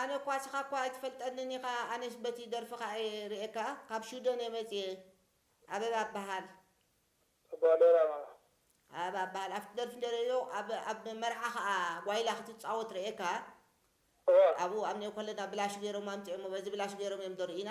ኣነ እኳ ስኻ እኳ ኣይትፈልጠንን ኢኻ ኣነስ በቲ ደርፍኻ እየ ሪኤካ ካብ ሹደን እየ መፂኤ ኣበባ እባሃል። ኣቦኣደር ኣበባ። ኣበባ እባሃል ኣብቲ ደርፊ እንተ ሪኤዮ ኣብ ኣብ መርዓ ኸኣ ጓይላ ክትፃወት ሪኤካ እዋ። ኣብኡ ኣብ ኔኮለና ብላሽ ገይሮም ኣምፂኦሞ በዚ ብላሽ ገይሮም እዮም ዶ ሪኢና።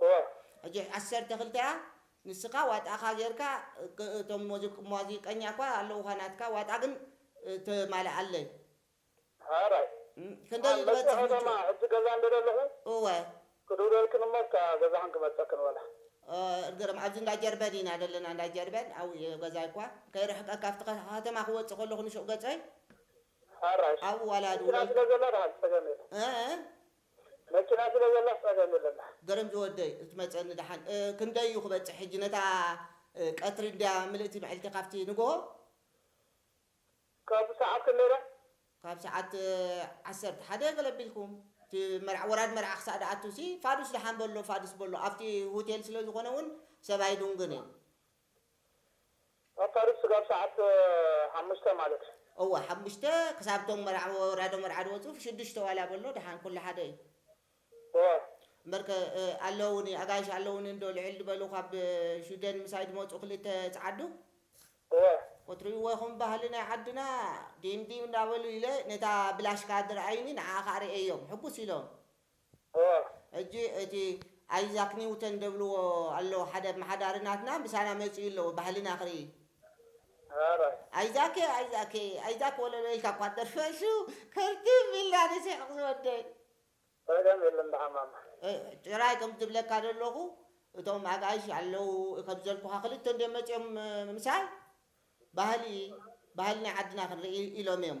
እወ። ሕጂ ዓሰርተ ክልተ እያ ንስካ ዋጣካ ጌርካ እቶም ሞዚቀኛ እኳ ኣለውካ ናትካ ዋጣ ግን ተማልኣለይ። ሐራይ ክንደይ እዩ ዝበፅሕ መፅኦ ምቹእ? ደማ ሕጂ ገዛ እንዶ ደለኹ እወ። ክድውለልክን እሞ እስከ ኣብ ገዛኽን ክመፀክን ወላ። እርግርም ኣብዚ እንዳ ጀርበን ኢና ደለና እንዳ ጀርበን ኣብኡ እየ ገዛይ እኳ ከይርሕቀካ ኣብቲ ከተማ ክወፅእ ከለኹ ንሹቕ ገፀይ ሐራይ ኣብኡ ዋላ መኪና ድውለልክ። ስለ ዘላ በሃልቲ ፀገም የለን። እእ መኪና ስለ ዘላስ ጸገም የለን ድሓን። ገረም ዝወደይ ክትመጸኒ ድሓን ክንደይ እዩ ክበጽሕ ሕጂ ነታ ቀትሪ እንድያ ምልእቲ ምዕልቲ ካብቲ ንግሆ። ካብ ሰዓት ክንደይ ድያ? ካብ ሰዓት ዓሰርተ ሓደ ገለ ኣቢልኩም እቲ መርዓ ወራድ መርዓ ክሳእ ድኣቱሲ ፋዱስ ድሓን በሎ ፋድስ በሎ ኣብቲ ሁቴል ስለ ዝኮነ ውን ሰብ ኣይዱንግን እዩ። ኣብ ታሪክ ስጋብ ሰዓት ሓሙሽተ ማለት እዩ። እወ ሓሙሽተ ክሳብ እቶም መርዓ ወራዶ መርዓ ድወጹ ሽዱሽተ ዋላ በሎ ደሓን ኩሉ ሓደ እዩ። እወ። እምበርከ ኣለዉኒ ኣጋይሽ ኣለዉኒ እንዶ ልዕል ድበሉ ካብ ሽውደን ምሳይ ድመጹ ክልተ ጸዓዱ። እወ። ክትርእይዎ ኢኹም ባህሊ ናይ ዓድና ዲም ዲም እንዳበሉ ኢለ ነታ ብላሽካ ድርኣዩኒ ንዓኣ ከኣ ርእየዮም ሕጉስ ኢሎም። ሕጂ እቲ ኣይዛክ ኒውተን ደብልዎ ኣለዉ ሓደ ኣማሓዳሪ ናትና ምሳና መጺኡ ኣለዎ ባህልና ክርኢ። ኣይዛኬ ኣይዛኬ ኣይዛክ ወለሎ ኢልካ እኳ ትደርፎ እሱ ክርትም ኢልና ንስሕቕ ዝወደይ። ጸገም የለን ደሓን ማማ። ጥራይ ከም ዝብለካ ዘለኹ እቶም ኣጋይሽ ኣለዉ ከም ዘልኩኻ ክልተ እንድዮም መጺኦም ምሳይ ባህሊ ባህሊ ናይ ዓድና ክንርኢ ኢሎም እዮም።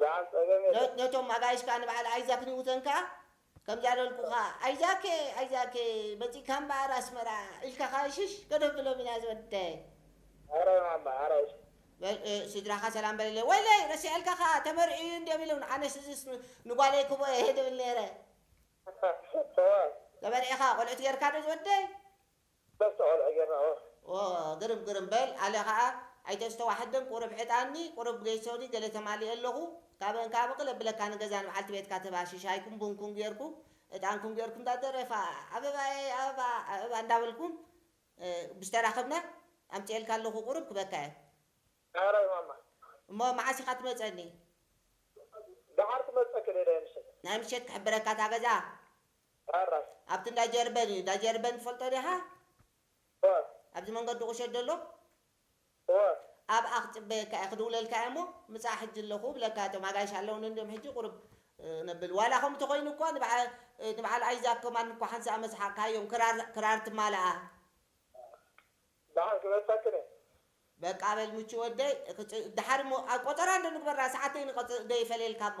ዝዓጸበ ሜዳ። ነቶም ኣጋይሽ ከኣ ንበዓል ኣይዛክ ኒውተን ከኣ ከምዚ ኣሎልኩኻ ኣይዛኬ ኣይዛኬ መጺእካ እምበኣር ኣስመራ ኢልካ ከኣ ሽሽ ከነብሎም ኢና ዝወደይ። ኣረ ማማ ኣራይሽ። ስድራኻ ሰላም በለለይ። ወይለይ ረሲዐልካ ከኣ ተመርዕዩ እዩ እንድዮም ኢሉን ኣነስ እዝስ ንጓለይ ክህቦ እየ ድብል ኔረ። ተመርዒኻ ቆልዑት ጌርካ ዶ ዝወደይ። በርትዕ ቆልዑ ጌርና ኦህ። ኦህ ግርም ግርም በል ኣለ ከኣ ኣይተስተዋሕድም ቁሩብ ዕጣኒ ቁሩብ ገይሶኒ ገለ ተማሊኤ ኣለኹ ካብእን ከኣ ብቅ ለብለካ ንገዛ ንብዓልቲ ቤትካ ትባሺ ሻይኩም ቡንኩም ጌርኩም እጣንኩም ጌርኩም እንዳ ደረፋ ኣበባየይ ኣበባ ኣበባ እንዳ በልኩም ምስ ተራኸብና ኣምጺኤልካ ኣለኹ ቁሩብ ክበካ እየ ዳሕራይ ማማ። እሞ መዓስ ኢኻ ትመጸኒ። ዳሓር ክመጸኪ ደይ ናይ ምሸት። ናይ ምሸት ክሕብረካ እታ ገዛ ዳር ራስ። ኣብቲ እንዳ ጀርበን እዩ እንዳ ጀርበን ትፈልጦ ዲኻ? እወ። ኣብዚ መንገዲ ቁሸት ደሎ? እወ። ኣብኣ ክጽበየካ እየ ክድውለልካ እየ እሞ ምጻእ ሕጂ ኣለኹ እብለካ እቶም ኣጋይሽ ኣለውኒ እንድዮም ሕጂ ቁሩብ ነብል ዋላ ከምኡ ተኾይኑ እኳ ንብዓል ኣይዛክ ከማን እኳ ሓንሳእ ኣመ ስሓቕካዮም ክራር ክራር ትማላኣ። ደሓን ክመልሰክን እየ። በቃ በል ምቹ ወደይ ደሓር እሞ ቆጸራ እንዶ ንግበራ ሰዓተይ ንቆጽ ደይፈለየልካ እሞ።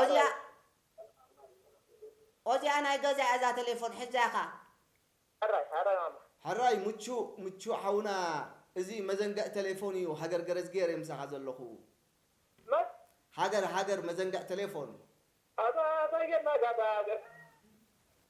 ኦዚኣ ኦዚኣ ናይ ገዛይ እያ እዛ ተሌፎን ሕዛ ኢኻ። ሕራይ ምቹ ምቹ ሓውና እዚ መዘንግዕ ተሌፎን እዩ ሃገር ገረዝጊሄር እየ ምሳኻ ዘለኹ። ሃገር ሃገር መዘንግዕ ተሌፎን።